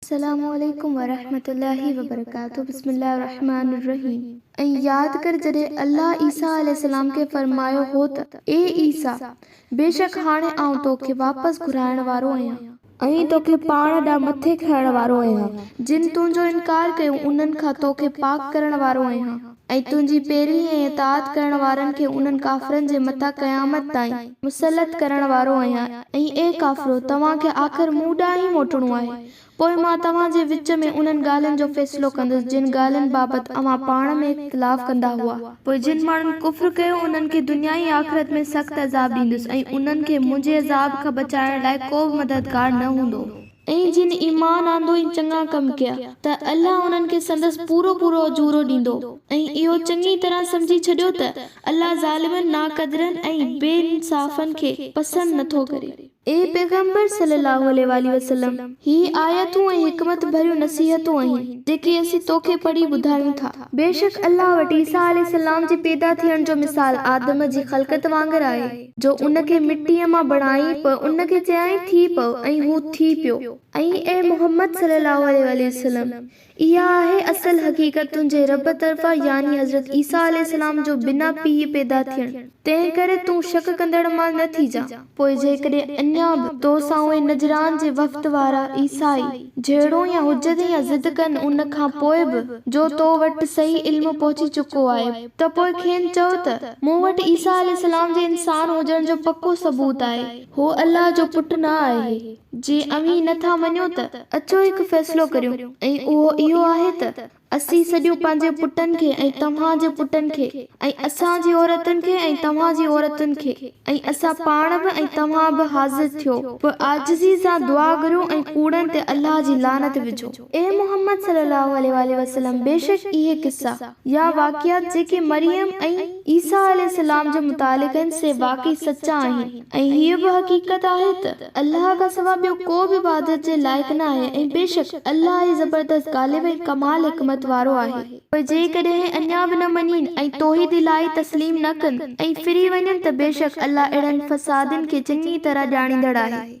السلام عليڪم ورحمة الله وبرڪاته بسم الله الرحمٰن الرحيم ۽ ياد ڪر جڏهن الله عيسيٰ عليه السلام کي فرمايو هو ته اي عيسيٰ! بيشڪ هاڻي آئون تو کي واپس گهرائڻ وارو آهيان. ائين توکي پاڻ ڏانهن مٿي کڻڻ وارو آهيان. جن تنهنجو انڪار ڪيو انهن کان توکي پاڪ ڪرڻ وارو آهيان ۽ تنهنجي پيروي ۽ اطاعت ڪرڻ وارن کي انهن ڪافرن جي مٿان قيامت تائين مسلط ڪرڻ وارو آهيان ۽ اي ڪافرو! توهان کي آخر مون ڏانهن ئي موٽڻو آهي، پوء مان توهان جي وچ ۾ انهن ڳالهين جو فيصلو ڪندس جن ڳالهين بابت اوهان پاڻ ۾ اختلاف ڪندا هئا. پوء جن ماڻهن ڪفر ڪيو انهن کي دنيا ۽ آخرت ۾ سخت عذاب ڏيندس ۽ انهن کي منهنجي عذاب کان بچائڻ لاء ڪو به مددگار نه هوندو. ۽ جن ايمان آندو ۽ چڱا ڪم ڪيا ته الله انهن کي سندس پورو پورو اجورو ڏيندو ۽ اهو چڱي طرح سمجهي ڇڏيو ته الله ظالمن، ناقدرن ۽ بي انصافن کي پسند نٿو ڪري. اي پيغمبر صلّي اللّٰه عليه واٰله وسلّم! هي آيتون ۽ حڪمت ڀريون نصيحتون آهن، جيڪي اسين تو کي پڙهي ٻڌايون ٿا. بيشڪ الله وٽ عيسيٰ عليه السّلام جي پيدا ٿيڻ جو مثال آدم جي خلقت وانگر آهي، جو ان کي مٽيء مان بڻائين، پوء ان کي چيائين، ٿي پئو، ۽ هو ٿي پيو. ۽ اي محمّد صلّي اللّٰه عليه واٰله وسلّم! اها آهي اصل حقيقت تنهنجي رب طرفان يعني حضرت عيسيٰ عليه السلام جو بنا پيء پيدا ٿيڻ، تنهن ڪري تون شڪ ڪندڙن مان نه ٿيجان. پوء جيڪڏهن اڃا به تو سان اهي نجران جي وفد وارا، عيسائي، جهيڙون يا حجت يا ضد ڪن ان کان پوء به جو تو وٽ صحيح علم پهچي چڪو آهي ته پوء کين چئو ته، مون وٽ عيسيٰ عليه السلام جي انسان هجڻ جو پڪو ثبوت آهي، هو الله جو پٽ نه آهي. جي اوهين نه ٿا مڃو ته اچو هڪ فيصلو ڪريون ۽ اهو اهو آهي ته اسين سڄو پنهنجي پٽن کي ۽ توهان جي پٽن کي ۽ اسان جي عورتن کي ۽ توهان جي عورتن کي ۽ اسان پاڻ به ۽ توهان به حاضر ٿيو به عاجزي سان دعا گھريو ۽ ڪوڙن تي الله جي لعنت وجھو. اي محمد صلّي اللّٰه عليه واٰله وسلّم بيشڪ اهي قصّا، يا واقعات، جيڪي مريم ۽ عيسيٰ عليه السّلام جي متعلق آهن سي واقعي سچا آهن ۽ هيء به حقيقت آهي ته الله کان سوا ٻيو ڪو به عبادت جي لائق نه آهي ۽ بيشڪ الله ئي زبردست غالب ۽ ڪمال حڪمت وارو آهي. پوء جيڪڏهن اڃا به نه مڃين ۽ توحيد الاهي تسليم نه ڪن ۽ ڦري وڃن ته بيشڪ الله اهڙن فسادين کي چڱي طرح ڄاڻيندڙ آهي.